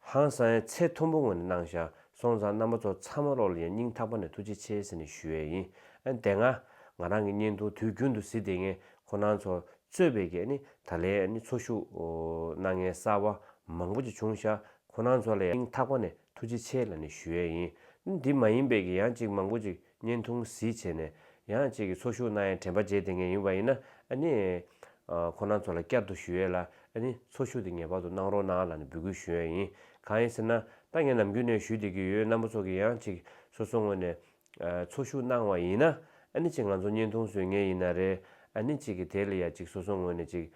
ཧང་སངས་ཡས་ཚེ་ཐུང་པོ་ངོ་ནས་གནང་ཞག་སོང་ཙང་རྣམ་པ་ཚོ་ཚ་མ་རོག་ལ་ཡང་སྙིང་ཐག་པ་ནས་ཐུགས་རྗེ་ཆེ་ཟེར་ནས་ཞུ་ཡས་ཡིན་ཨ་དེ་ང་ང་རང་གི་བརྙན་ཐུང་དུས་རྒྱུན་དུ་ཟི་དེ་ངས་ཁོ་ནང་ཚོ་རྩོད་པའི་གེ་ནི་ད་ལའི་ཨ་ནི་ཚོ་ཤུགས་གནང་ངའི་གསར་བ་མང་པོ་ཅིག་བྱུང་ཞག་ཁོ་ནང་ཚོ་ལ་ཡང་སྙིང་ཐག་པ་ནས་ཐུགས་རྗེ་ཆེ་ལ་ནས་ཞུ་ཡས་ཡིན་ཨ་འདི་མ་ཡིན་པའི་གེ་ཡང་ཅིག་མང་པོ་ཅིག། བརྙན་ཐུང་གཟི་བྱས་ནས་ཡང་ཁྱེད་ཀྱི་ཚོགས་ཞུགས་གནང་ཡའི་དྲན་པ་བརྗེད་དེ་ངས་ཡིན་པ་ཡིན་ན་ཨ་ནི། ཁོ་རང་ཚོ་ལ་བསྐྱར་དུ་ཞུ་ཡས་ལ་ཨ་ནི་ཚོགས་ཞུགས་དེ་ངེས་པར་དུ་གནང་རོགས་གནང་ལ་ནི་འབོད་སྐུལ་ཞུ་ཡས་ཡིན་གང་ཡིན་ཟེར་ན་ད་ངས་ནམ་རྒྱུན་ནས་ཞུ་བསྡད་ཀྱི་ཡོད་རྣམ་པ་ཚོ་གི་ཡང་ཁྱེད་སོ་སོ་ངོས་ནས་ཚོགས་ཞུགས་གནང་བ་ཡིན་ན་ཨ་ནི་ཅིག་ང་ཚོ་བརྙན་ཐུང་བཟོས་ངེས་ཡིན་ན་རེད་ཨ་ནི་ཅིག་གི་དེ་ལ་ཡ་ཅིག་སོ་སོ་ངོས་ནས་ཅིག་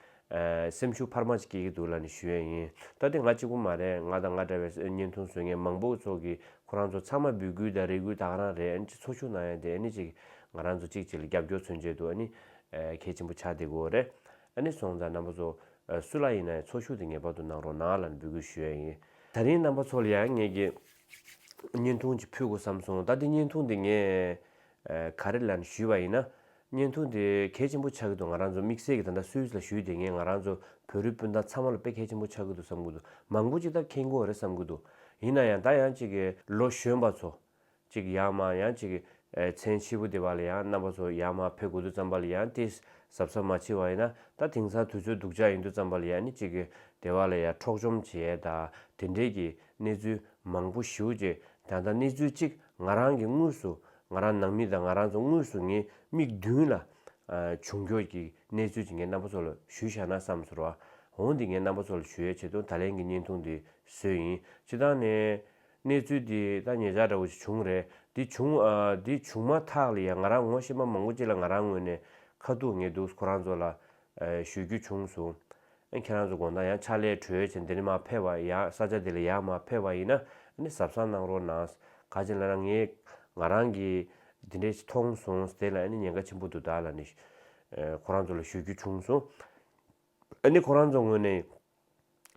སེམས་ཤུགས་འཕར་མ་ཅིག་སྐྱེ་གི་འདུག་ལ་ནི་ཞུ་ཡས་ཡིན། ད་ལྟའི་ང་གཅིག་པུ་མ་རེད་ང་དང་ང་འདྲ་བའི་བརྙན་ཐུང་བཟོ་མཁན་མང་པོ་ཚོགས་ཀྱི་ཁོ་རང་ཚོ་ཚང་མ་འབུད་སྐུལ་དང་རེ་སྐུལ་དག་རང་རེད་ཨ་ནི་ཅིག་ཚོགས་ཆུང་ནང་ཡང་དེ་ཨ་ནི་ཅིག་ང་རང་ཚོ་གཅིག་གཅིག་ལ་རྒྱབ་སྐྱོར་མཚོན་བྱེད་དུ་ཨ་ནི་གལ་ཆེན་པོ་ཆགས་བསྡད་དགོས་རེད་ཨ་ནི་སོང་ཙང་རྣམ་པ་ཚོ་སུ་ལ་ཡིན་ན་ཡང་ཚོགས་ཞུགས་དེ་ངེས་པར་དུ་གནང་རོགས་གནང་ལ་ནི་འབུད་སྐུལ་ཞུ་ཡས་ཡིན། ད་རིང་རྣམ་པ་ཚོ་ལ་ཡང་ངས་ཀྱི་བརྙན་ཐུང་ཅིག་ཕུལ་དགོས་བསམ་སོང་ད་དེ་བརྙན་ཐུང་དེ་ངས་ག་རེ་ལན་ཞུས་པ་ཡིན་ན། བརྙན་ཐུང་དེ་གལ་ཆེན་པོ་ཆགས་ཀྱི་འདུག་ང་རང་ཚོ་དམིགས་བསལ་གྱི་ད་ལྟ་སུད་སི་ལ་བཞུགས་དེ་ངས་ང་རང་ཚོ་བོད་རིགས་སྤུན་ཟླ་ཚང་མ་ལ་དཔེ་གལ་ཆེན་པོ་ཆགས་ཀྱི་འདུག་བསམ་གྱི་འདུག་མང་པོ་ཅིག་ད་མཁྱེན་དགོས་རེད་བསམ་གྱི་འདུག་ཡིན་ན་ཡང་ད་ཡང་ཅིག་གི་ལོ་གཞོན་པ་ཚོ། ཅིག་ཡང་མ་ཡང་ཅིག་གི་མཚན་ཕྱི་པོ་དེ་བ་ལ་ཡང་རྣམ་པ་ཚོ་ཡང་མ་ཕེབས་དགོས་འདུག་བསམ་པ་ལ་ཡང་ཏིས་ཟབ་ས་མ་མཆིས་བ་ཡིན་ན་ད་དེང་སང་དུས་ཚོད་སྡུག་ཅག་ཡིན་འདུག་བསམ་པ་ལ་ཡང་ནི་ཅིག་གི་དེ་བ་ལ་ཡང་འཕྲོག་བཅོམ་བྱས་ད་དེ་འདྲས་ཀྱི་གནས་ཚུལ་མང་པོ་ཞུ་རྗེས་ད་ད་གནས་ཚུལ་ཅིག་ང་རང་གིས་དངོས་སུ་ང་རང་ནང་མི་དང་ང་རང་ཚོ་དངོས་སུ་ངའི་མིག་མདུན་ལ། བྱུང་འཁྱོར་གྱི་གནས་ཚུལ་དེ་ངའི་རྣམ་པ་ཚོ་ལ་ཞུ་བཞག་ན་བསམ་ཚོར་བ། འོང་འདི་ངའི་རྣམ་པ་ཚོ་ལ་ཞུ་ཡ་བྱེད་དུ་ད་ལན་གྱི་བརྙན་ཐུང་འདི་བཟོས་ཡིན་སྤྱི་ལྟང་ནས། གནས་ཚུལ་འདི་ད་ངེད་ཅག་འདྲ་བོ་ཞིག་བྱུང་རེད་འདི་བྱུང། འདི་བྱུང་མ་ཐག་ལ་ཡང་ང་རང་ངོ་ཤེས་མ་མང་པོ་ཅིག་ལ་ང་རང་ངོས་ནས་ཁ་ཐུག་ངེས་འདུག་ཁོ་རང་ཚོ་ལ་ཞུ་རྒྱུ་བྱུང་སོང། ཁྱེད་རང་ཚོ་དགོངས་དག་ཡང་ཕྱག་ལས་གྲོལ་བྱས་འདི་ནས་མ་ཕེབས་བར་ཡང་ས་ཆ་འདི་ལ་ཡང་མ་ཕེབས་བ་ཡིན་ན་ཟབ་གསང་གནང་རོགས་གནང། ག་ཅེ་ན་རང་ངས་ང་རང་གིས་འདི་འདྲས་མཐོང་སོང་དེ་ལ་ཉེན་ཁ་ཆེན་པོ་འདུག་བདག་ལ་ནས་ཁོ་རང་ཚོ་ལ་ཞུ་རྒྱུ་བྱུང་སོང། ཁོ་རང་ཚོ་ངོས་ནས་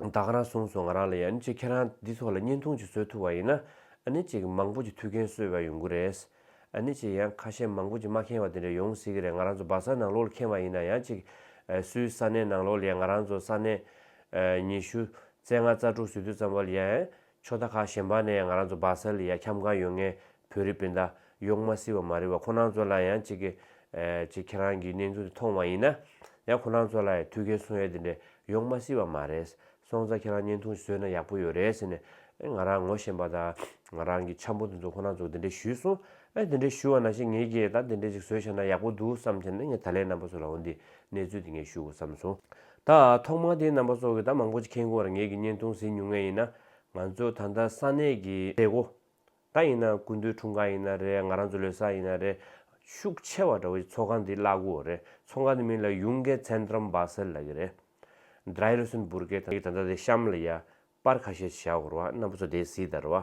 བདག་ག་རང་གསུངས་སོང་ང་རང་ལ་ཡན་ཅིག་ཁྱེད་རང་འདི་ཚོ་ལ་བརྙན་ཐུང་ཅིག་བཟོས་ཐུབ་པ་ཡིན་ན་ནི་ཅིག་མང་པོ་ཅིག་ཐུགས་འགན་གསོས་པའི་ཡོང་གི་རེད་ནི་ཅིག་ཡང་ཁ་ཤས་མང་པོ་ཅིག་མ་ཁེངས་བ་དེ་འདྲ་ཡོང་སྲིད་ཀྱི་རེད་ང་རང་ཚོ་སྦག་ས་ནང་ལོགས་ལ་ཁེངས་བ་ཡིན་ན་ཡང་ཅིག་སུའི་ས་གནས་ནང་ལོགས་ལ་ཡང་ང་རང་ཚོ་ས་གནས་ཉི་ཤུ་རྩེ་ལྔ་རྩ་དྲུག་ཟུར་དུ་ཙམ་བ་ལ་ཡན་ཕྱོགས་མཐའ་ཁག་གཞན་པ་ནས་ང་རང་ཚོ་སྦག་སལ་ལ་ཡ་ཁྱམས་གང་ཡོད་ངས་བོད་རིགས་སྤུན་ཟླ་ཡོག་མ་སི་བ་མ་རི་བ་ཁོ་རང་ཚོ་ལ་ཡང་གཅིག་གི་གཅིག་ཁྱེད་རང་གི་གནས་ཚུལ་འདི་མཐོང་བ་ཡིན་ན་ཡང་ཁོ་རང་ཚོ་ལ་ཡ་ཐུགས་ཁའི་སོང་ཡ་དེ་འདྲ་ཡོག་མ་སི་བ་མ་རེད་སོང་ཙང་ཁྱེད་རང་བརྙན་ཐུང་བཟོས་ན་ཡག་པོ་ཡོད་རེད་ཟེར་ནས་ཨེ་ང་རང་ངོ་ཤེས་པ་ད་ང་རང་གི་འཆམ་པོ་དེ་ཚོ་ཁོ་རང་ཚོ་དེ་འདྲ་ཞུས་སོང་ཨེ་དེ་འདྲ་ཞུས་བ་ན་ཤེས་ངེས་ཀྱིས་ད་དེ་འདྲ་ཅིག་བཟོས་ཤག་ན་ཡག་པོ་འདུག་བསམ་ཚེ་ནས་ངས་ད་ལན་རྣམ་པ་ཚོ་ལའང་འདི་གནས་ཚུལ་འདི་ངས་ཞུ་དགོས་བསམ་སོང། ད་ཐོག་མར་དེའི་རྣམ་པ་སོགས་ཀྱི་ད་མང་པོ་ཅིག་མཁྱེན་དགོས་བར་ངེད་ཀྱིས་བརྙན་ཐུང་ཟིན་ཉུང་ངེས་ཡིན་ན། ང་ཚོ་ད་ལྟ་ས་གནས་ཀྱི་མཛད་སྒོ། ད་ཡིན་ན་ཀུན་འདུས་འཁྲུངས་སྐར་ཡིན་ན་རེད་ང་རང་ཚོ་ལོས་ས་ཡིན་ན་རེད། ཤུགས་ཆེ་བ་འདྲ་བོ་ཅིག་ཚོགས་ཁང་འདི་བརླག་དགོས་རེད་ཚོགས་ཁང་འདི་མིན་ལ་ཡུང་ཀེ Zentrum Basel ལ་གི་རེད། Dreirüsenburge དང་ད་ལྟ་དེ་གཤམ་ལ་ཡཱ་པར་ཁ་ཤས་བཞག་འོར་བ་རྣམ་པ་ཚོ་དེ་གཟིགས་དར་བ།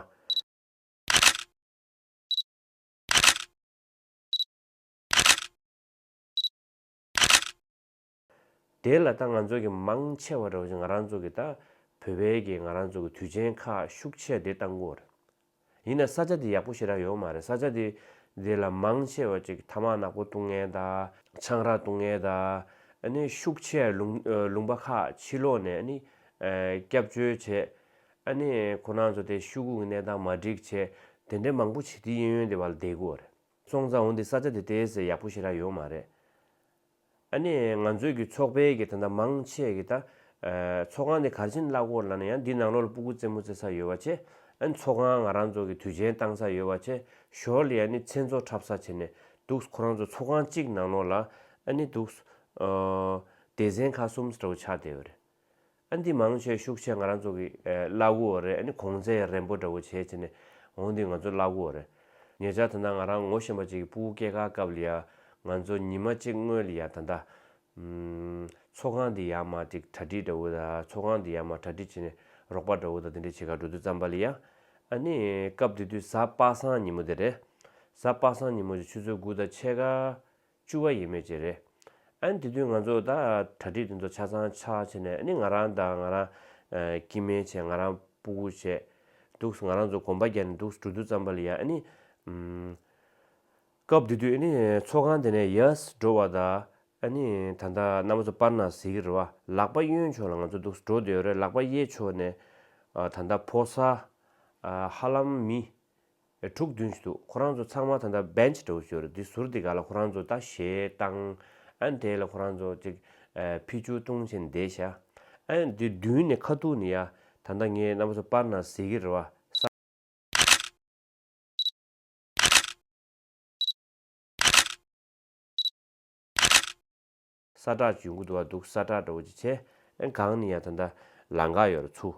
དེ་ལ་ད་ང་ཚོ་གི་མང་ཆེ་བ་རེ་བ་ཞིག་ང་རང་ཚོ་གི་ད་བོད་པའི་གི་ང་རང་ཚོ་གི་དུས་ཆེན་ཁག་ཤུགས་ཆེ་དེ་བཏང་གོ་རེད། ཡིན་ན་ས་ཆ་དེ་ཡག་པོ་ཞིག་རག་ཡོད་མ་རེད་ས་ཆ་དེ་དེ་ལ་མང་ཆེ་བ་ཅིག་ཐ་མག་ནག་པོ་བཏུང་ངེས་ད་ཆང་རག་བཏུང་ངེས་ད་ནི་ཤུགས་ཆེ་ལུང་ལུང་པ་ཁག་ཕྱི་ལོག་ནས་ནི་སྐྱབས་བཅོལ་བྱེད་ཨ་ནི་ཁོ་ན་ཚོ་དེ་ཤུག་གུག་གི་གནས་སྟངས་མ་འགྲིག་ཆེ་དེ་འདྲ་མང་པོ་ཆིག་དེ་ཡིན་ཡོན་དེ་བ་ལ་བསྡད་གོ་རེད་སོང་ཙང་འོ་འདི་ས་ཆ་དེ་དེ་སེ་ཡག་པོ་ཞིག་རག་ཡོད་མ་རེད། ཨ་ནི་ང་ཚོའི་གི་ཚོགས་པའི་གི་ད་ད་མང་ཆེ་གི་ད། ཚོགས་ཁང་དེ་གར་ཕྱིན་བརླག་གོ་ལ་ན་ཡང་འདི་ནང་ལོག་ལ་སྤུ་གུ་རྩེ་མོ་རྩེ་ས་ཡོད་བ་ཆེ། ཨ་ནི་ཚོགས་ཁང་ང་རང་ཚོ་གི་དུས་ཆེན་བཏང་ས་ཡོད་བ་ཆེ་ཞོར་ལི་ཨ་ནི་མཚན་ཚོགས་འཁྲབ་ས་བྱེད་ནས་འདུག་ཁོ་རང་ཚོ་ཚོགས་ཁང་གཅིག་ནང་ལོག་ལ་ཨ་ནི་འདུག། སྡེ་ཚན་ཁ་གསུམ་ས་ཏྲ་བུ་ཆགས་བསྡད་ཡོད་རེད། ཨ་འདི་མང་ཆེ་ཤུགས་ཆེ་ང་རང་ཚོ་གི་བླ་གུ་བོ་རེད་ཨ་ནི་གོང་ཚད་རན་པོ་འདྲ་བོ་བྱེད་བྱེད་ནས་འོང་འདི་ང་ཚོ་བླ་གུ་བོ་རེད་ངེད་ཅག་ད་ལྟ་ང་རང་ངོ་ཤེས་པ་ཅིག་གི་སྤུ་བོ་སྐྱེས་ཁ་སྐབས་ལ་ཡང་ང་ཚོ་ཉི་མ་གཅིག་སྔོན་ལ་ཡང་ད་ལྟ་ཚོགས་ཁང་འདི་ཡར་མ་ཅིག་གྲ་སྒྲིག་འདྲ་བོ་དང་ཚོགས་ཁང་འདི་ཡར་མ་གྲ་སྒྲིག་བྱེད་ནས་རོགས་པ་འདྲ་བོ་དང་དེ་འདྲ་བྱེད་ཁར་འགྲོ་དུས་བརྩམས་པ་ལ་ཡང་ཨ་ནི་སྐབས་དེ་དུས་གཟའ་པ་སངས་ཉིན་མོ་དེ་རེད་གཟའ་པ་སངས་ཉིན་མོ་ཆུ་ཚོད་དགུ་དང་ཕྱེད་ཀ་བཅུ་བ་ཡིན་མོད་ཀྱི་རེད། ཨན་དེ་དུས་ང་ཚོ་ད་གྲ་སྒྲིག་དེ་ཚོ་ཆ་ཚང་ཆགས་བྱས་ནས་ཨ་ནི་ང་རང་དང་ང་རང་ཀི་མེན་བྱས་ང་རང་པུ་གུ་བྱས་འདུག་ང་རང་ཚོ་གོམ་པ་རྒྱག་ནས་འདུག་འགྲོ་འདུག་ཙམ་པ་ལ་ཡ་ཨ་ནི། སྐབས་དེ་དུས་ཨ་ནི་ཚོགས་ཁང་དེ་ནས་ཡཱས་འགྲོ་བ་ད་ཨ་ནི་ད་ལྟ་མནའ་མ་ཚོ་སྤར་ན་ཟེར་གི་རེད་བ་ལག་པ་གཡོན་ཕྱོགས་ལ་ང་ཚོ་འདུག་འགྲོ་དེའོ་རེད་ལག་པ་གཡས་ཕྱོགས་ནས་ད་ལྟ་ཕོ་སར་ཧ་ལམ་མི་ཨེ་དྲུག་བདུན་ཞིག་འདུག་ཁོ་རང་ཚོ་ཚང་མ་ད་ལྟ Bench འདྲ་བོ་བྱོས་རེད་འདི་ཟུར་འདི་ག་ལ་ཁོ་རང་ཚོ་ད་ཞེས་བཏང་ཨན་དེ་ལ་ཁོ་རང་ཚོ་ཅིག་ཕི་ཆུ་བཏུང་བྱས་ནས་བསྡད་ཤག་ཨན་འདི་བདུན་ནས་ཁ་ཐུག་ནས་ཡ་ད་ལྟ་ངའི་རྣམ་པ་ཚོ་པར་ནང་གཟིགས་ཀྱི་རེད་བ་ས་ས་བྲག་ཇུས་འགུ་དུ་བ་འདུག་ས་བྲག་འདྲ་བོ་ཅིག་བྱས། སྒང་ནི་ཡ་ད་ད་ལ་འགག་ཡོད་ར་ཚུ།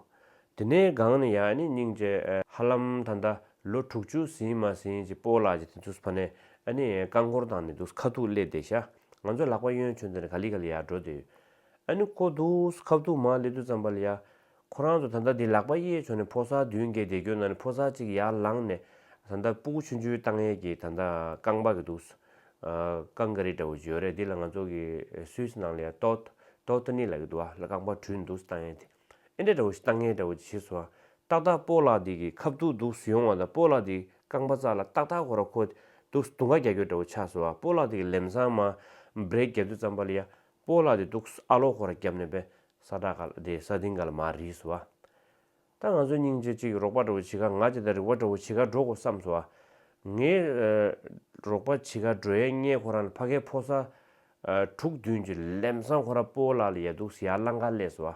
དེ་ནས་སྒང་ནི་ཡ་ནི་སྙིང་རྗེ་ཧ་ལམ་ད་ད་ལོ་དྲུག་ཅུ་ཟིན་མ་ཟིན་ཅིག་སྤོ་ལགས་ཀྱི་དེ་ཚུ་ཕ་ནས་ནི་རྐང་འཁོར་དང་ནི་འདུག་ཁ་ཐུག་སླེ་བསྡད་ཤག་ང་ཚོ་ལག་པ་གཡོན་ཆོད་འདི་ནས་ག་ལི་ག་ལི་ཡ་འགྲོ་དེ་ཡོད་ཨ་ནི་ཀོ་འདུག་ཁབ་ཐུག་མ་སླེ་དུས་ཙམ་པ་ལི་ཡ་ཁོ་རང་ཚོ་ད་ལྟ་དེ་ལག་པ་གཡས་བྱུང་ནས་ཕོ་གསར་བདུན་བརྒྱད་བསྡད་རྒྱུ་ན་ནི་ཕོ་གསར་གཅིག་ཡར་ལངས་ནས་ད་ལྟ་སྤུ་གུ་ཆུན་ཆུན་བཏང་ཡས་ཀྱི་ད་ལྟ་རྐང་པ་གི་འདུག་སོ། རྐང་ག་རི་འདྲ་བོ་བརྗོད་རེད་འདི་ལ་ང་ཚོ་གི་སུད་སི་ནང་ལ་ཡང་ཏོད། Totteney། ལ་གི་འདུག་ཨ་ལ་རྐང་པ་དྲུད་འདུག་བཏང་ཡས་དེ་ཨེ་འདྲ་འདྲ་བོ་ཞིག་བཏང་ཡས་འདྲ་བོ་ཅིག་བྱེད་སོང་ཨ། ཏག་ཏག་སྤོ་ལགས་འདི་གི་ཁབ་དུག་འདུག་ཡོང་བ་དང་སྤོ་ལགས་འདི་རྐང་པ་གཙག་ལ་ཏག་ཏག་ཁོ་ར་ཁོ། འདུག་དུང་ཁ་རྒྱ་ཁྱོད་འདྲ་བོ་ཆགས་སོང་ཨ་སྤོ་ལགས་འདི་གི་ལེམ་སང་མ། Break རྒྱ་མདུད་ཙམ་པ་ལ་ཡ། སྤོ་ལགས་འདི་འདུག་ཨ་ལོ་ཁོ་ར་རྒྱབ་ནས་བས། ས་བྲག་ག་ལ་དེ་ས་ལྡིང་ག་ལ་མ་རིག་སོ་ཨ། ད་ང་ཚོའི་སྙིང་རྗེ་གཅིག་རོགས་པ་འགྲོ་བ་ཇི་ག་ང་ཇི་ལྟར་རིག་བ་འགྲོ་བ་ཇི་ག་འགྲོ་དགོས་བསམས་སོ་ཨ། ངའི་རོགས་པ་ཇི་ག་འགྲོ་ཡས་རྙེད་ཁོ་རང་ལ་ཕ་གའི་ཕོ་ས་དྲུག་བདུན་གྱི་ལེམ་སང་ཁོ་རང་སྤོ་བོ་ལག་ལ་ཡལ་འདུག་ཟི་ཡག་བླ་འགའ་སླེ་སོ་ཨ།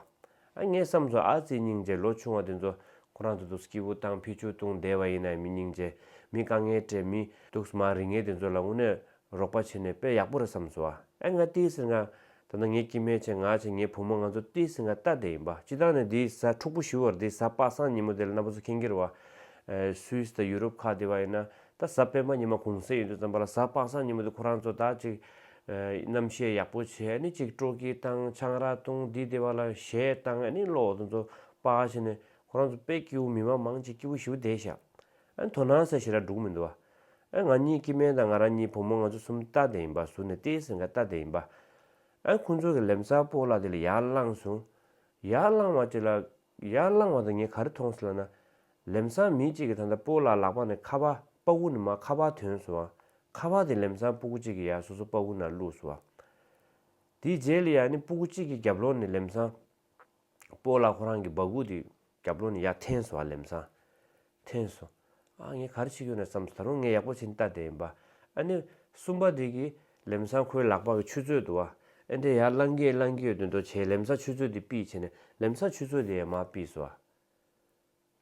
ཨ་ངས་བསམས་སོ་ཨ་ཙི་སྙིང་རྗེ་ལོ་ཆུང་བ་དེ་ཚོ་ཁོ་རང་ཚོ་དུས་སྐྱིད་བུ་བཏང་ཕི་ཆུ་བཏུང་བསྡད་བ་ཡིན་ནའི་མི་སྙིང་རྗེ་མི་དཀའ་ངལ་སྤྲད་མི་འདུག་མ་རིག་ངས་དེ་ཚོ་ལ་དངོས་གནས་རོགས་པ་བྱས་ནས་དཔེ་ཡག་པོ་རེད་བསམ་སོང་ཨ་ཨེ་ང་ཏི་སེར་ང། ད་ནི་ངས་ཀྱི་མེད་བྱས་ང་བྱས་ངའི་བུ་མོ་ང་ཚོ་ཏི་སེར་ང་ལྟ་བསྡད་ཡིན་པ་སྤྱི་བཏང་ནས་དེའི་བཟའ་ཕྲུག་པོ་ཞུ་བར་དེའི་བཟའ་དཔག་བསམ་ཉིན་མོ་དེ་ལ་གནའ་བོ་ཚོ་ཁེངས་ཁེར་བ། Swiss དང Europe ཁག་དེ་བ་ཡིན་ན་ད་བཟའ་སྤེན་པ་ཉི་མ་གུང་ཟས་ཡོད་དུས་བརྩམས་པ་ལ་བཟའ་དཔག་བསམ་ཉིན་མོ་དེ་ཁོ་རང་ཚོ་དག་ཅིག། རྣམ་བཤད་ཡག་པོ་བྱས་ནི་ཅིག་སྤྲོ་སྐྱིད་བཏང་ཆང་རག་བཏུང་དེའི་དེ་བ་ལ་གཞས་བཏང་ཨེ་ནི་བློ་འོ་དོ་ཚོ་དཔག་བྱས་ནས་ཁོ་རང་ཚོ་དཔེ་སྐྱིའུ་མི་དམངས་མང་ཅིག་སྐྱིའུ་ཞུ་བསྡད་བཞག། ཨ་དོ་སྣང་ཟེར་ཞེ་ར་འབྲུག་མི་འདུག་ཨ། ཨ་ང་གཉིས་སྐྱིད་སྨན་དང་ང་རང་གཉིས་བུ་མོ་ང་ཚོ་གསུམ་རྟ་དེ་ཡིན་པ་ཟུར་ནས་ཏེའི་ཟེར་མཁན་རྟ་དེ་ཡིན་པ། ཨ་ཁོ་ཚོ་གི་ལེམ་ཚ་པོ་ལགས་དེ་ལ་ཡར་བླངས་སོང། ཡར་བླངས་བ་དེ་ལ། ཡར་བླངས་བ་དང་ངས་ག་རེ་མཐོང་སོང་ལ་ན། ལེམ་ཚང་མི་གཅིག་གིས་ད་ལྟ་པོ་ལགས་ལག་པ་ནས་ཁ་བ་པ་བུ་ནི་མ་ཁ་བ་དོན་སོང་ཨ། ཁ་བ་དེ་ལེམ་ཚང་པུ་གུ་གཅིག་གིས་ཡར་སོ་སོ་པ་བུ་ནར་བླུགས་སོང་ཨ། དེའི་རྗེས་ལ་ཡར་ནི་པུ་གུ་གཅིག་གིས་རྒྱབ་ལོགས་ནས་ལེམ་ཚང། པོ་ལགས་ཁོ་རང་གི་སྦག་གུ་དེ་རྒྱབ་ལོག་ནས་ཡར་འཐེན་སོང་ཨ་ལེམ་སང། འཐེན་སོང། ཨ་ངས་ག་རེ་བྱེད་ཀྱི་ཡོད་ན་བསམ་སོང་ད་རུང་ངས་ཡག་པོ་བྱེད་འདི་ལྟ་བསྡད་ཡིན་པ། ཨ་ནི་གསུམ་པ་དེ་གིས་ལེམ་སང་ཁོའི་ལག་པ་གི་ཆུ་ཚོད་དུ་བ་ཨེ་འདྲས་ཡར་བླངས་ཀྱི་བླངས་ཀྱི་ཡོད་དོན་དོ་བྱས་ལེམ་སང་ཆུ་ཚོད་དེ་སྤིས་བྱས་ནས་ལེམ་སང་ཆུ་ཚོད་དེ་ཡང་མ་སྤིས་སོ་ཨ།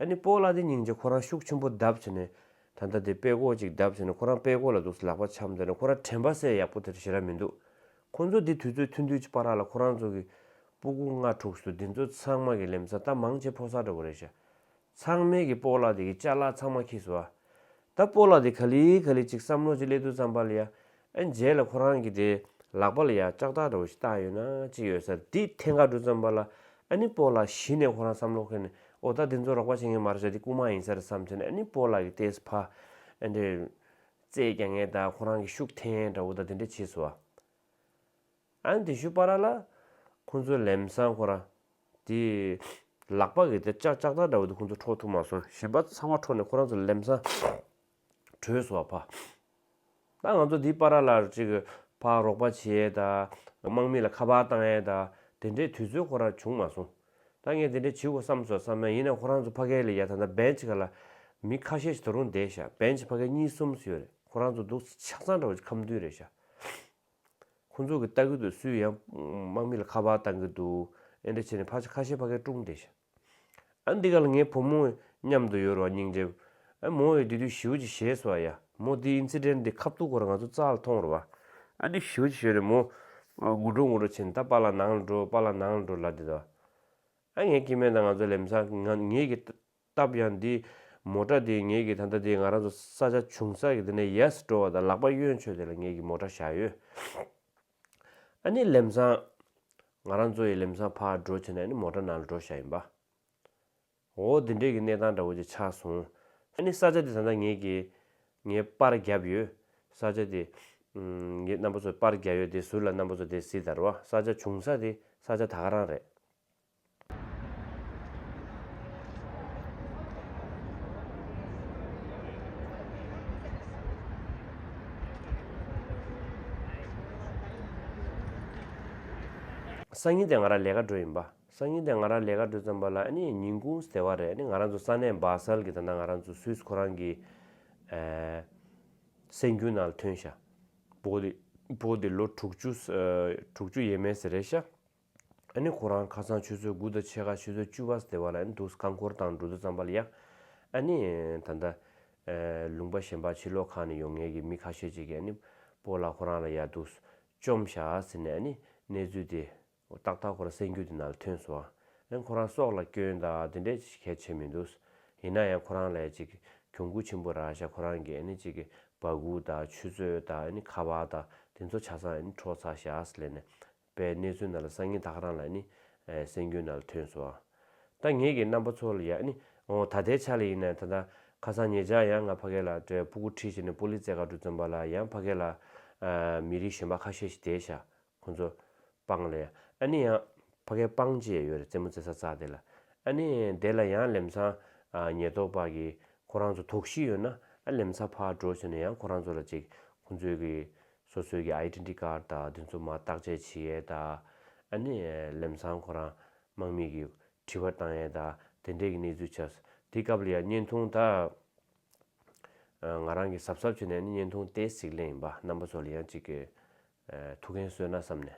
ཨ་ནི་སྤོ་ལ་དེ་སྙིང་རྗེ་ཁོ་རང་ཤུགས་ཆེན་པོ་གདབ་བྱས་ནས་ད་ལྟ་དེ་དཔེ་ཀོ་ཅིག་གདབ་བྱས་ནས་ཁོ་རང་དཔེ་ཀོ་ལ་འདུག་སའི་ལག་པ་འཆམ་དེ་ནས་ཁོ་རང་དྲན་པ་སའི་ཡག་པོ་དེར་ཞེ་ར་མི་འདུག་ཁོ་ཚོ་འདི་དུས་ཚོད་ཐུན་དུས་ཀྱི་པ་རག་ལ་ཁོ་རང་ཚོ་གི་སྤུ་གུ་ལྔ་དྲུག་སུ་འདི་ཚོ་ཚང་མ་གི་ལེམ་ས་ད་མང་ཆེ་ཕོ་སར་འདྲ་བོ་རེད་ཤ་ཚང་མེད་གི་སྤོ་ལ་དེ་གི་ལྕགས་ལ་ཚང་མ་ཁྱི་སུ་ཨ། ད་སྤོ་ལགས་དེ་ག་ལི་ག་ལི་ཅིག་བསམ་བློ་ཅིག་སླེབས་འདུག་བསམ་པ་ལ་ཡ་ཨ་མཇལ་ལ་ཁོ་རང་གི་དེ་ལག་པ་ལ་ཡ་ལྕགས་ཐག་འདྲ་བོ་ཞིག་བཏགས་ཡོད་ན་ཅིག་ཡོད་སར་དེ་ཐེངས་འགའ་འགྲོ་བསམ་པ་ལ་ཨ་ནི་སྤོ་ལགས་གཞི་ནས་ཁོ་རང་བསམ་བློ་ཁེལ་ནས་ཨོ་ད་དེ་ཚོ་རོགས་པ་བྱེད་མཁན་མ་རེད་ཟེར་དེ་རྐུ་མ་ཡིན་སར་བསམ་ཚེ་ན་ཨ་ནི་སྤོ་ལགས་ཀྱི་ལྟས་ཕ་ཨ་འདྲས་རྩེད་ཀྱང་ངས་ད་ཁོ་རང་གི་ཤུགས་འཐེན་འདྲ་བོ་ད་དེ་འདྲས་བྱས་སོ་ཨ། ཨན་དེ་ཤུ་པ་ར་ལ། ཁོང་ཚོའི་ལེམ་སང་ཁོ་ར། དེ། ལག་པ་གི་དེར་ལྕགས་ལྕགས་ཐག་འདྲ་བོ་དེ་ཁོང་ཚོ་འཕྲོག་ཐུབ་མ་སོང་ཞེས་པ་ཚང་མ་འཕྲོག་ནས་ཁོ་རང་ཚོ་ལེམ་སང། བྲོས་སོང་བ་ཕ། ད་ང་ཚོ་དེའི་པ་ར་ལར་ཅིག་ཕག་རོག་པ་བྱེད་ཡས་ད། དམག་མི་ལ་ཁ་པར་བཏང་ཡས་ད། དེ་འདྲའི་དུས་ཚོད་ཁོ་ར་བྱུང་མ་སོང། ད་ངས་དེ་འདྲའི་བྱེད་དགོས་བསམ་སོང་བསམ་ན་ཡིན་ན་ཁོ་རང་ཚོ་ཕ་གའི་ལ་ཡ་ད་ད་བན་ཆི་ཁ་ལ། མི་ཁ་ཤས་ཞིག་ད་རུང་བསྡད་ཤག་བན་ཆི་ཕ་གའི་གཉིས་གསུམ་སུ་ཡོད་རེད་ཁོ་རང་ཚོ་འདུག་སའི་ཆགས་ཚང་འདྲ་བོ་ཅིག་ཁམས་མདུན་རེད་ཤག། ཁོང་ཚོ་གི་ལྟ་གི་འདུག་སུས་ཡང་དམག་མི་ལ་ཁ་བར་བཏང་གི་འདུག་ཨེ་འདྲ་བྱས་ནས་ཕ་ཆ་ཁ་ཤས་ཕ་གའི་སྐྲུངས་ཏེ་ཤི། ཨ་འདི་ག་ལ་ངའི་བུ་མོ་མཉམ་དུ་ཡོད་རུང་ཨ་སྙིང་རྗེ། ཨ་མོ་ཡོད་དེ་དུས་ཞིའོ་ཅི་ཞེས་སོ་ཨ་ཡ། མོ་འདི incident འདི་ཁ་བཏུག་གོ་ར་ང་ཚོ་རྩ་ལ་ཐོང་རུ་བ། ཨ་འདི་ཞིའོ་ཅི་ཞོན་ནས་མོ་ངུ་འགྲོ་ངུ་འགྲོ་བྱས་ནས་ད་པ་ལ་ནང་ལ་འགྲོ་པ་ལ་ནང་ལ་འགྲོ་ལ་འདི་ད། ཨ་ངའི་སྐྱེ་དམན་དང་ང་ཚོ་ལེམ་ས་ངའི་གི། སྟབས་ཡང་འདི། མོ་ཏྲ་དེས་ངེད་ཀྱིས་ད་ལྟ་དེ་ང་རང་ཚོ་ས་ཆ་ཆུང་སར་གྱི་དེ་ནས་ཡལ་སི་འགྲོ་བ་དང་ལག་པ་གཡོན་ཆོད་དེ་ལ་ངེད་ཀྱིས་མོ་ཏྲ་བཞག་ཡོད། ཨ་ནི་ལེམ་སང། ང་རང་ཚོ་ཡི་ལེམ་སང་ཕར་འགྲོ་བྱས་ནས་ཨ་ནི་མོ་ཏྲ་ནང་ལ་འགྲོ་བཞག་ཡིན་པ། འོ་འདི་འདྲས་ཀྱི་གནས་སྟངས་འདྲ་བོ་ཅིག་ཆགས་སོང། ཨ་ནི་ས་ཆ་དེ་ད་ལྟ་ངེད་ཀྱིས། ངའི་པར་བརྒྱབ་ཡོད། ས་ཆ་དེ། ངེད་རྣམ་པ་ཚོས་པར་བརྒྱབ་ཡོད་དེ་ཟུར་ལ་རྣམ་པ་ཚོ་དེ་སི་དར་བ་ས་ཆ་ཆུང་ས་དེ་ས་ཆ་ད་ག་རང་རེད། སང་ཉིན་དེ་ང་རང་ལས་ཀ་འགྲོ་ཡིན་པ། སང་ཉིན་དེ་ང་རང་ལས་ཀ་འགྲོ་ཙམ་པ་ལ་ཉིན་གུང་ཟེར་བ་རེད་ང་རང་ཚོ་ས་གནས་སྦག་སལ་གྱི་ད་ནང་ང་རང་ཚོ་སུད་སི་ཁོ་རང་གི་སེམས་རྒྱུད་ནང་ལ་ཐོན་ཤ། བོད་དེ་ལོ་དྲུག་ཅུ་ཡས་མས་ཟེར་རེད་ཤ། ཨ་ནི་ཁོ་རང་ཁ་སང་ཆུ་ཚོད་དགུ་དང་ཕྱེད་ཀ་ཆུ་ཚོད་བཅུ་བ་སྟེ་བ་ལ་ཨ་ནི་འདུག་རྐང་འཁོར་དང་འགྲོ་འདུག་ཙམ་པ་ལ་ཡག། ཨ་ནི། ད་ལྟ། ལུང་པ་གཞན་པ་ཕྱི་ལོགས་ཁག་ནས་ཡོང་ངེས་ཀྱི་མི་ཁ་ཤས་ཅིག་གིས་ཨ་ནི། པོ་ལགས་ཁོ་རང་ལ་ཡག་འདུག། བཅོམ་བཞག་ཟེར་ནས་ཨ་ནི། གནས་ཚུལ་དེ། ཏག་ཏག་ཁོ་རང་སེམས་རྒྱུད་དེ་ན་ལ་ཐོན་སོང། ཨ་ནི་ཁོ་རང་སྲོག་ལ་སྐྱོན་དང་དེ་འདྲས་ཅིག་གལ་ཆེ་མི་འདུག། ཡིན་ན་ཡང་ཁོ་རང་ལས་ཅིག་གྱོང་གུད་ཆེན་པོ་རག་བཞག་ཁོ་རང་གིས་ཨ་ནི་ཅིག་བ་གུག་དང་ཆུ་ཚོད་དང་ཨ་ནི་ཁ་བ་དང་དེ་ཚོ་བྱ་སང་ཨ་ནི་འཕྲོག་ཚར་བཞག་ལས་ནས། པའི་གནས་ཚུལ་རྣམས་ལ་སང་ཉིན་ཐག་རང་ལ་ནི། སེམས་འགྱུ་རྣམས་ཐོན་སོ། ད་ངེད་ཀྱི་རྣམ་པ་ཚོ་ལ་ཡང་ནི། འོང་ད་ལྟའི་ཆ་ལ་ཡིན་ན་ད། ཁ་སང་ངེད་ཅག་ཡང་ང་ཕ་སྐད་ལ་བྲེལ་སྤུ་གུ་ཁྲིད་བྱས་ནས་པོ་ལི་ཙེ་མཁའ་འགྲུལ་རྩོམ་པ་ལ་ཡང་ཕ་སྐད་ལ། མི་རིགས་གཞན་པ་ཁ་ཤས་ཤིག་དེའི་ཤ། ཁོ་ཚོ། སྤང་ལ་ཡང། ཨ་ནི་ཡང། ཕ་སྐད་སྤང་བྱེད་ཡོད་རེད་རྩེད་མོ་རྩེ་ས་རྩག་དེ་ལ། ཨ་ནི། དེ་ལ་ཡང་ལེམ་སང། ཉེས་རྟོག་པ་གིས། ཁོ་རང་ཚོ་དོགས་གཞི་ཡོད་ན། ཨ་ལེམ་ས་ཕར་འགྲོ་ཟེར་ནས་ཡང་ཁོ་རང་ཚོ་ལ་ཅིག། ཁོ་ཚོའི་གི། སོ་སོའི་གི Identity Card དང་བདེན་འཚོལ་མ་བརྟག་དཔྱད་བྱེད་ཡས་དང། ཨ་ནི་ལེམ་སང་ཁོ་རང་དམག་མིས་གི་དྲི་བ་བཏང་ཡས་དང་དེ་འདྲས་གི་གནས་ཚུལ་ཆགས། དེ་སྐབས་ལ་ཡང་བརྙན་ཐུང་དག་ང་རང་གི་གཟབ་གཟབ་བྱས་ནས་ནི་བརྙན་ཐུང་ཏེ་གཟིགས་ལེན་ཡིན་པ་རྣམ་པ་ཚོ་ལ་ཡང་ཅིག་གི་ཐུགས་འགན་གསོས་ན་བསམ་ནས་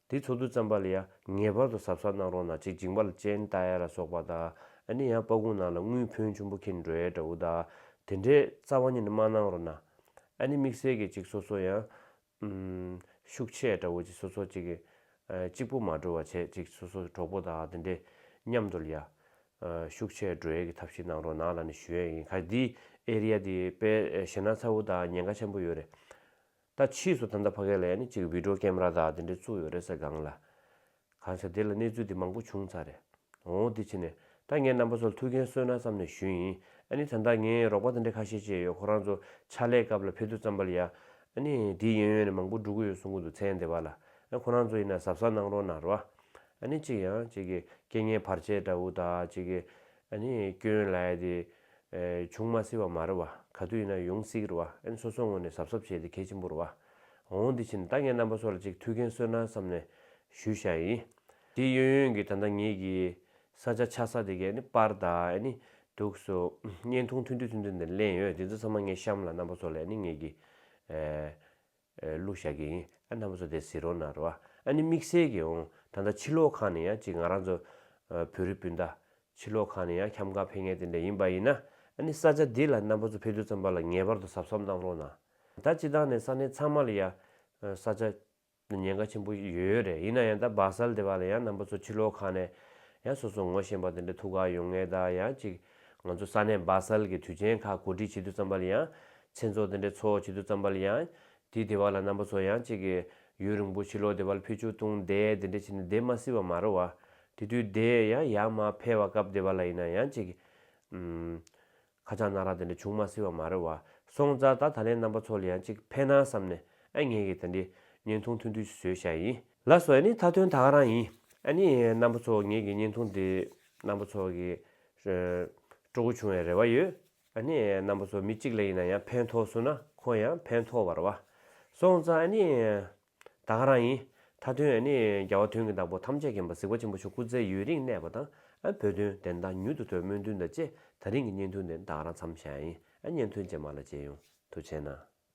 དེ་ཚོགས་འདུ་བརྩམས་པ་ལ་ཡང་ངེས་པར་དུ་ཟབ་གསལ་གནང་རོགས་གནང་ཅིག་འཇིགས་མ་ལ་ཅན་རྟ་ཡ་ལ་སོགས་པ་དང་ཨ་ནི་ཡང་སྤ་གུང་ནང་ལ་དངུལ་ཕོན་ཆུན་པོ་ཁེན་འགྲོའི་འདྲ་བོ་དང་དེ་འདྲའི་རྩ་བ་ཉིད་ནས་མ་གནང་རོགས་གནང་ཨ་ནི་དམིགས་བསལ་གྱི་ཅིག་སོ་སོ་ཡང་ཤུགས་ཆེ་འདྲ་བོ་ཅིག་སོ་སོ་ཅིག་གཅིག་པོ་མ་འགྲོ་བ་བྱེད་ཅིག་སོ་སོ་གྲོགས་པོ་དང་དེ་འདྲའི་མཉམ་དུ་ལ་ཡང་ཤུགས་ཆེ་འགྲོའི་གི་ཐབས་ཤིག་གནང་རོགས་གནང་ལ་ནི་ཞུ་ཡ་ཡིན་ག་འདི་ཨེ་རི་ཡ་འདི་དཔེ་ཞེ་ན་ཚ་བོ་དང་ཉེན་ཁ་ཆེན་པོ་ཡོད་རེད། ད་ཕྱིས་སུ་ད་ལྟ་ཕ་གི་ལ་ཡ་ནི་གཅིག་བིད་འགྲོ་ཀེམ་ར་དག་དེ་འདྲས་བཙུགས་ཡོད་རེད་ཟེར་སྒང་ལ། གང་ཟེར་དེ་ལ་གནས་ཚུལ་དེ་མང་པོ་བྱུང་ཚར་རེད། འོ་འོ་དེ་ཕྱིན་ནས་ད་ངའི་རྣམ་པ་ཚོ་ལ་ཐུགས་འགན་གསོས་ན་བསམ་ནས་ཞུས་ཡིན་ཨ་ནི་ད་ལྟ་ངའི་རོགས་པ་དེ་འདྲས་ཁ་ཤས་བཅས་ཡོད་ཁོ་རང་ཚོ་ཕྱག་ལས་སྐབས་ལ་ཕེ་ཐུ་རྩམ་པ་ལ་ཡ། ཨ་ནི་དེའི་ཡོན་ཡོན་ནས་མང་པོ་འགྲོ་གི་ཡོད་གསུང་གི་འདུག་ཚེ་འདས་པ་ལ་ཨ་ཁོ་རང་ཚོ་ཡིན་ན་གཟབ་གཟབ་གནང་རོགས་གནང་རོགས་ཨ་ནི་གཅིག་ཡང་གཅིག་གི་སྐད་ངན་བར་ཆད་འདྲ་བོ་དག་གཅིག་གི་ཨ་ནི་སྐྱོན་ལ་ཡ་དེ། བྱུང་མ་སྲིད་བ་མ་རེད་བ། ག་དུས་ཡིན་ན་ཡོང་སྲིད་རེད་བ་ཨན་སོ་སོ་ངོས་ནས་གཟབ་གཟབ་བྱས་ཏེ་གལ་ཆེན་པོ་རེད་བ། ངོ་བོ་འདི་ཕྱིན་ད་ངའི་རྣམ་པ་སོགས་ལ་ཅིག་ཐུགས་འགན་གསོས་ན་བསམ་ནས་ཞུས་བཞག་ཡིན། དེ་ཡོན་ཡོན་གྱི་ད་ལྟ་ངེད་ཀྱི་ས་ཆ་ཆགས་ས་དེ་གའི་ནི་པར་དག་ཨ་ནི་འདུག་སོ། བརྙན་ཐུང་ཐུང་དུས་ཐུང་ཐུང་དེ་ལེན་ཡོད་དེ་ཚོ་ཚང་མ་ངའི་གཤམ་ལ་རྣམ་པ་སོགས་ལས་ནི་ངེད་ཀྱི། གླུ་བཞག་གི་ཡིན་ཨ་མདའ་མོ་ཚོ་དེ་ཟིག་རོ་ན་རོ་ཨ་ཨ་ནི་དམིགས་བསལ་གྱི་འོང་ད་ལྟ་ཕྱི་ལོག་ཁང་ནས་ཡང་གཅིག་ང་རང་ཚོ་བོད་རིགས་སྤུན་ཟླ་ཕྱི་ལོག་ཁང་ནས་ཡང་ཁྱམས་ཁང་ཕེབས་ངེས་དེ་འདྲ་ཡིན་པ་ཡིན་ན་ཨ་ནི་ས་ཆ་འདི་ལ་རྣམ་པ་ཚོ་ཕེབས་དུས་ཙམ་པ་ལ་ངེས་པར་དུ་ཟབ་ཟབ་གནང་རོགས་གནང་ད་སྤྱི་དང་ནས་ས་གནས་ཚང་མ་ལ་ཡང་ས་ཆ་ཉེན་ཁ་ཆེན་པོ་ཡོད་ཡོད་རེད་ཡིན་ན་ཡང་ད་སྦག་སལ་དེ་བ་ལ་ཡང་རྣམ་པ་ཚོ་ཕྱི་ལོག་ཁང་ནས་ཡང་སོ་སོ་ངོ་ཤེས་པ་དེ་འདྲ་ཐུག་ག་ཡོང་ངེས་ད་ཡང་གཅིག་ང་ཚོ་ས་གནས་སྦག་སལ་གྱི་དུས་ཆེན་ཁག་གོ་སྒྲིག་བྱེད་དུ་བརྩམས་པ་ལ་ཡང། མཚན་ཚོགས་དེ་འདྲའི་འཚོགས་བྱེད་དུ་བརྩམས་པ་ལ་ཡང། དེའི་སྡེ་བ་ལ་རྣམ་པ་ཚོ་ཡང་གཅིག་གིས། ཡུན་རིང་པོ་ཕྱི་ལོག་སྡེ་བ་ལ་ཕེབས་ཆུ་བཏུང་འདས་དེ་འདྲ་བྱས་ནས་བསྡད་མ་སྲིད་པ་མ་རེད་བ། དེ་དུས་དེ་ཡང་ཡར་མར་ཕེབས་བ་སྐབས་སྡེ་བ་ལ་ཡིན་ན་ཡང་གཅིག་གིས། ཁ་བྱང་གནང་རག་དེ་འདྲ་བྱུང་མ་སྲིད་པ་མ་རེད་བ། སོང་ཙར་ད་ད་ལན་རྣམ་པ་ཚོ་ལ་ཡང་གཅིག་ཕན་ན་བསམས་ནས་ཨ་ངས་ཀྱིས་དེ་འདྲའི་བརྙན་ཐུང་ཐོན་དུས་སུ་བཟོས་བཞག་ཡིན། ལ་སོགས་ནི་མཐའ་དོན་དག་རང་ཡིན། ནི་རྣམ་པ་ཚོགས་ངེས་ཀྱི་བརྙན་ཐུང་འདི་རྣམ་པ་ཚོགས་ཀྱི་སྤྲོ་སྒོ་ཆུང་བའི་རེ་བ་ཡོད། ནི་རྣམ་པ་ཚོགས་མི་གཅིག་ལ་ཡིན་ན་ཡང་ཕན་ཐོགས་བསུ་ན་ཁོང་ཡང་ཕན་ཐོགས་བར་བ། སོང་ཙང་ནི་དག་རང་ཡིན། མཐའ་དོན་ནི་རྒྱལ་བ་དོན་གྱི་བདག་པོ་ཐམས་ཅད་མཁྱེན་པ་གཟིགས་པ་ཆེན་པོ་ཆོས་སྐུ་ཚེ་ཡུན་རིང་གནས་པ་དང་བོད་དོན་བདེན་མཐའ་མྱུར་དུ་ཐོས་སྨོན་འདུན་དང་བཅས་ད་རིང་གི་བརྙན་ཐུང་འདི་དག་རང་འཚམས་ཤ་ཡིན་བརྙན་ཐུང་རྗེས་མ་ལ་མཇལ་ཡོང་དུ་བྱས་ན།